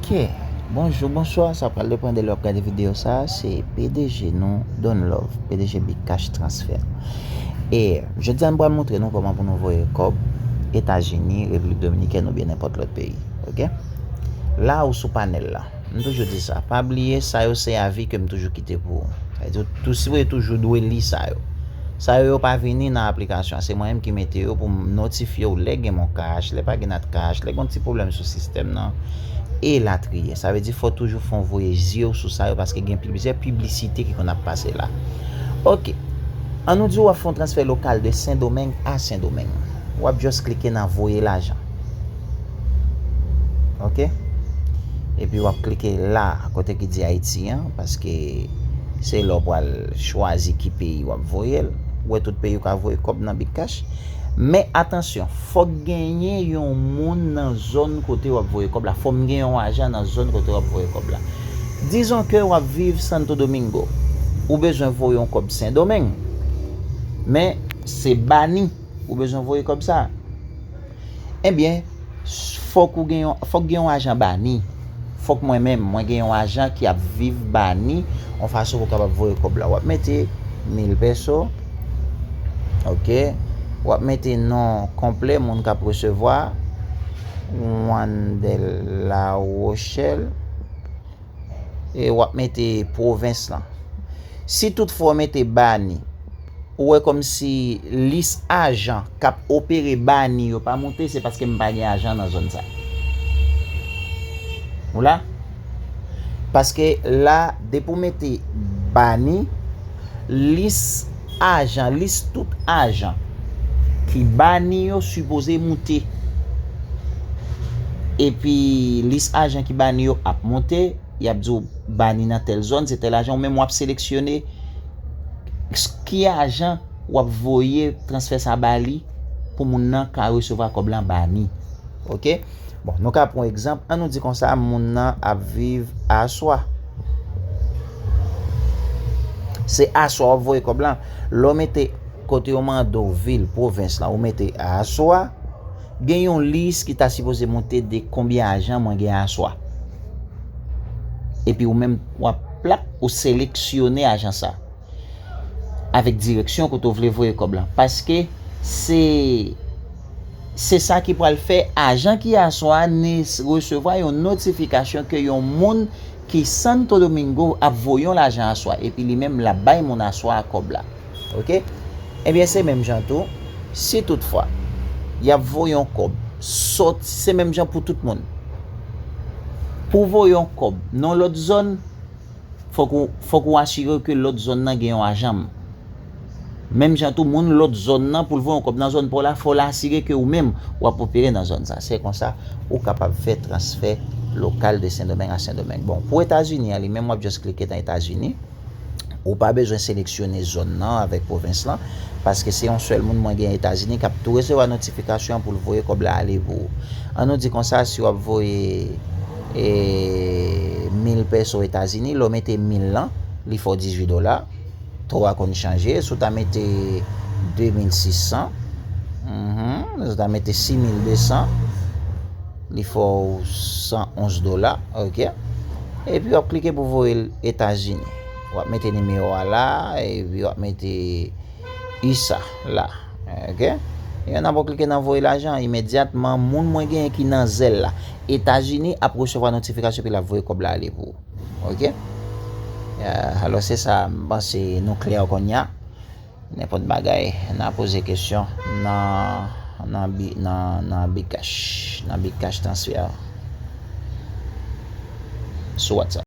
Ok bonjou bonswa sa pral depan de lè wap gade video sa se pdg nou Don love pdg big cash transfer e jodia nou pral montre nou kòman pou nou voye kòb etazini repiblik dominikèn oubyen nenpòt lòt peyi ok la ou sou panèl la m toujou di sa pa bliye sa yo se avi kem toujou kite pou ou sa vle di ou tou si ou toujou dwe li sa yo. Sa yo yo pa vini nan aplikasyon an se mwen menm ki mete yo pou m notifye w lè gen moncash, lè pa gen natcash, lè gen yon ti pwoblèm sou sistèm nan e latriye. Sa vle di fò toujou fon w voye zye w sou sa yo paske gen plizyè piblisite ki konn ap pase la. Ok, an nou di w ap fè yon transfè lokal de sendomeng a sendomeng. W ap just klike nan voye lajan. Ok Epi wap klike la kote ki di Ayiti an paske se la w pral chwazi ki peyi wap voye l Ou wè tout peyi ou ka voye kòb nan Bitcash Men atansyon fòk genyen yon moun nan zòn kote wap voye kòb la Fòm gen yon ajan nan zòn kote wap voye kòb la Dizon ke wap viv Santo Domingo Ou bezwen voye yon kòb Sendomeng Men se bani Ou bezwen voye kòb sa. Ebyen, fòk ou gen yon, fòk gen yon ajan bani. Fòk mwen menm, mwen gen yon ajan ki ap viv bani, yon fason pou kapab voye kòb la. Wap mete 1000 peso, ok, wap mete non konplè moun kap resevwa, Wandel Larochelle. e wap mete pwovens lan. Si tout fwa w mete bani, ou wè kòm si lis ajan kap opere bani yo pa moute, se paske m pa gen ajan nan zòn sa. Ou la? Paske la depi w mete bani, lis. ajan lis tout ajan ki bani yo sipoze moute epi lis ajan ki bani yo ap moute yap diw bani nan tèl zòn se tèl ajan ou menm wap seleksyone ki ajan wap voye transfè sa bali pou moun nan ka resevwa kòb lan bani ok. Bon, nou ka pran egzanp, an nou di konsa moun nan ap viv a aswa. Se aswa wap voye kòb lan. Lè w mete kote yo mande w vil, pwovens lan, ou mete a aswa, gen yon lis ki ta sipoze monte de konbyen ajan mwen gen a aswa. Epi ou menm wap plap ou seleksyone ajan sa. Avèk direksyon kote w vle voye kòb lan. Paske se... Se sa ki pral fè ajan ki aswa ni resevwa yon notifikasyon ke yon moun ki Santo Domingo ap voye yon lajan aswa epi li menm lap bay moun aswa a kòb la. Ok. Ebyen se menm jan tou, si tout fwa yap voye yon kòb sòti, se menm jan pou tout moun. Pou voye yon kòb nan yon lòt zòn, Fòk ou asire w ke lòt zòn nan gen yon ajan. Menm jan tou, moun lòt zòn nan, pou l voye yon kòb nan zòn pa w la, fò l asire ke ou menm, w ap opere nan zòn sa. Se konsa, ou kapab fè transfè lokal de Sendomeng a Sendomeng. Bon, pou Etazini an li menm, w ap just klike nan Etazini. Ou pa bezwen seleksyone zòn nan avèk pwovens lan, paske se yon sèl moun mwen gen Etazini k ap tou resevwa notifikasyon an pou l voye kòb la ale pou ou. An nou di konsa, si w ap voye. 1000 pèso etazini lè w mete 1000 lan li fè w 18 dola to a konn chanje si w ta mete 2600 si w ta mete 6200 li fè w 111 dola ok epi w ap klike pou voye l etazini w ap mete nimewo a la epi w ap mete usa la Ok Yon nan pou klike nan voye lajan imedyatman moun mwen genyen ki nan Zelle la Etazini ap resevwa notifikasyon epi lap voye kòb la ale pou ou ok Alò se sa m panse nou klè kounya Nenpòt bagay nan poze kesyon nan nan bcash nan bcash transfer sou WhatsApp.